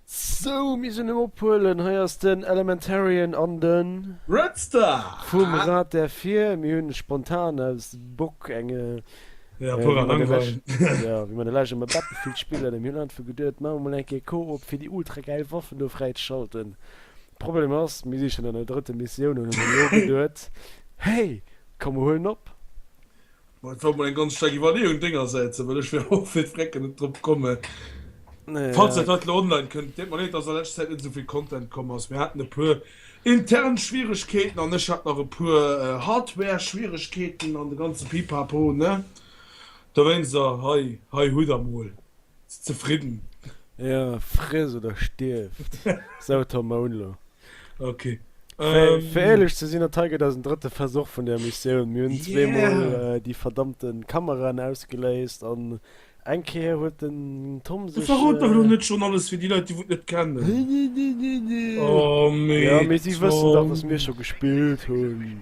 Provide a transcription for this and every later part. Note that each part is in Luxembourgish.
Sou, mir sinn um Ophuelen. Hei ass den Elementarian an de Redstar vum Rad der Vir. Mir hunn spontan aus Bock eng, wéi mer de leschte mol Battlefield spillen, mir hunn einfach geduet, maache mol eng Kéier Koop, fir déi ultra gäil Waffen do fräi ze schalten. Problem ass, mir si schonn an der drëtte Missioun an hunn elo geduet, hey, komm mer huelen op. Bon, et war mol eng ganz staark Iwwerleeung déngersäits, well ech wär och fir d'Vrecken net drop komme. Falls dat haut elo online kënnt, deet mer leed, dass a leschter Zäit net esou vill Content komm ass. Mir haten e puer intern Schwieregkeeten an ech hat nach e puer Hardware-Schwieregkeeten an de ganze Pipapo, ne? Dowéinst, hei, hei hutt der mol. Zefridden. Jo, friss oder stierft, sou Tom Mounlo. Ok. Fir éierlech ze sinn, dat hei gëtt eisen drëtte Versuch vun där Missioun. Mir hunn zweemol déi verdammte Kameraen ausgeléist an eng Kéier huet den Tom sech. Verrot dach elo net schonn alles fir déi Leit, déi wou et net kennen. Jo, mee si wëssen dach, dass mir scho gespillt hunn.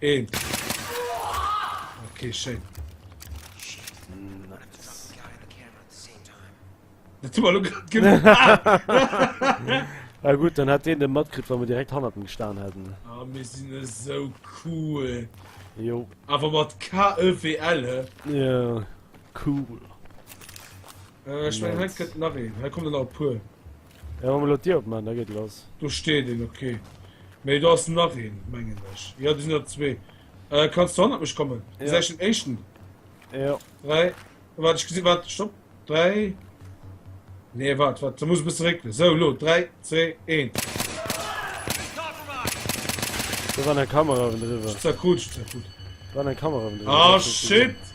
Een. Okay, schéin. Dat hu mer lo grad gemaach. Na gut, dann hat deen de matkritt, wa mer direkt hannert em gestan hätten. Ah, mir sinn esou cool. Jo. Awer mat KEWL, he? Ja, cool. Äh, ech mengen, hei kënnt nach een. Hei kommen der nach e puer. Ech hun elo d'Dier opman, da geet et lass. Do steet een, ok. Mee do ass nach een, mengen ech. Jo, do sinn der zwee. Kanns du hannert mech kommen? Bis ech den éischten. Jo. Dräi. Waart, ech gesi. Waart, stopp. Dräi. Nee, waart, waart. Da muss ech e bësse réckelen. Sou, elo. Dräi, zwee, een. Do war eng Kamera ewendriwwer. Zerkrutscht, zerkrutscht. War eng Kamera ewendriwwer. Ah, shit!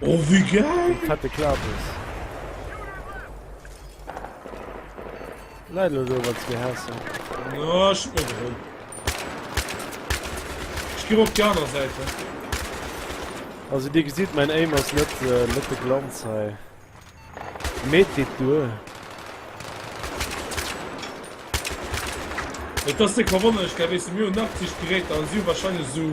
Oh wéi geil! Eng fette Klabes. Läit elo do, wat se gehassen. Oh, ech hun mech erëm. Ech gi op déi aner Säite. Also dir gesitt, mäin Aim ass net, äh, net de Glanz hei. Mee et geet duer. Et ass déck verwonnerlech, gell, weess de, mir hunn 80 Geräter an si hu wahrscheinlech esou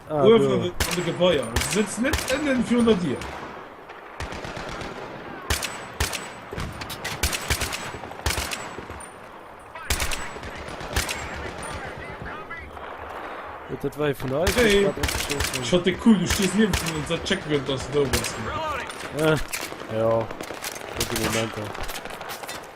Uewen an de Gebaier. Se sëtzt net ënnen virun der Dier. Dat war vun der Schott de cool du stees nie vun unser Check gëtt ass do was. Ja Dokumenter.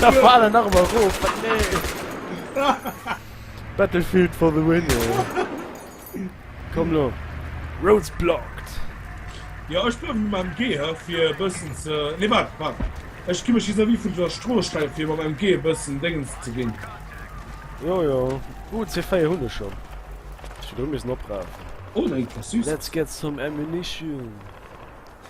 Da faal en nach emmer roof, wat nee! Battlefield for the win, jo. Komm lo, roads blocked! Jo, ech bleiwen elo mam MG hei, fir e bëssen ze, nee waart, waart, ech gi mech vis-à-vis vun der Strooss stellen, fir mam MG e bëssen Déngens ze ginn. Jo, jo, uh, C4 hunn ech schonn, ech hätt et elo missen opraafen. Oh, dat geet grad süss! Let's get some ammunition!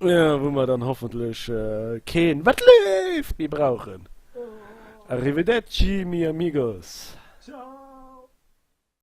Wou mer dann hoffentlech keen Wat leeft? méi brauchen. Arrivederci, mi amigos. Ciao!